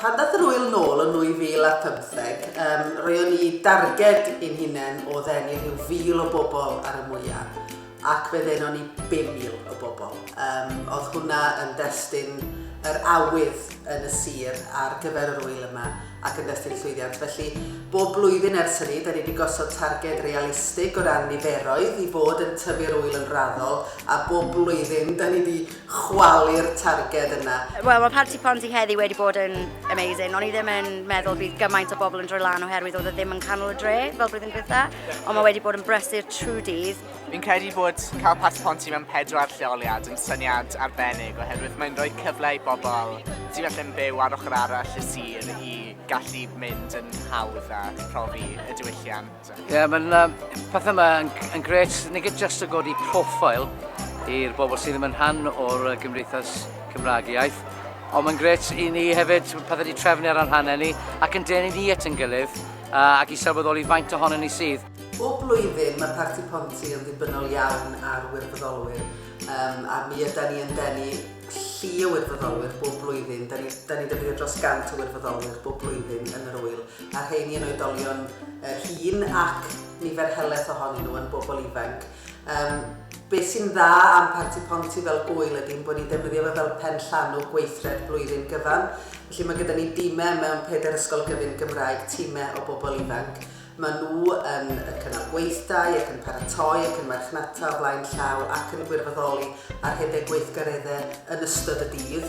Pan ddaeth yr ŵyl nôl yn 2015, um, roeddwn ni darged i'n hunain o ddenu rhyw fil o bobl ar y mwyaf, ac fe ddeno ni 5,000 o bobl. Um, oedd hwnna yn destun yr awydd yn y sir ar gyfer yr ŵyl yma. ac yn destun llwyddiant. Felly, bob blwyddyn ers hynny, da ni wedi gosod targed realistig o ran niferoedd i fod yn tyfu'r ŵyl yn raddol, a bob blwyddyn da ni wedi chwalu'r targed yna. Wel, mae Parti Ponzi heddi wedi bod yn amazing. O'n i ddim yn meddwl bydd gymaint o bobl yn droi lan oherwydd oedd e ddim yn canol y dre fel blwyddyn dwytha, ond mae wedi bod yn brysur trwy dydd. Fi'n credu bod cael Plas y Ponty mewn pedwar lleoliad yn syniad arbennig oherwydd mae'n rhoi cyfle i bobl sydd felly'n byw ar ochr arall y sir i gallu mynd yn hawdd a profi y diwylliant. Ie, yeah, mae'n um, pethau yma yn, yn gret, nid just o godi profil i'r bobl sydd ddim yn rhan o'r gymdeithas Cymraeg iaith, ond mae'n gret i ni hefyd pethau wedi trefnu ar anhanau ni ac yn denu ni at yn gilydd ac i sylweddoli faint ohono ni sydd. Bob blwyddyn mae Parti Ponty yn ddibynnol iawn ar wirfoddolwyr um, a mi yda ni yn denu llu o wirfoddolwyr bob blwyddyn. Da ni, da ni defnyddio dros gant o wirfoddolwyr bob blwyddyn yn yr wyl, a rheini yn oedolion uh, hyn ac nifer helaeth ohonyn nhw yn bobl ifanc. Um, Be sy'n dda am Parti Ponty fel gwyl ydy bod ni'n defnyddio fe fel pen llanw gweithred blwyddyn gyfan. Felly mae gyda ni dîmau mewn pedair ysgol gyfyn Gymraeg, tîmau o bobl ifanc. Maen nhw yn cynnal gweithdai ac yn paratoi ac yn marchnata o flaen llaw ac yn gwirfoddoli ar rhedeg gweithgareddau yn ystod y dydd.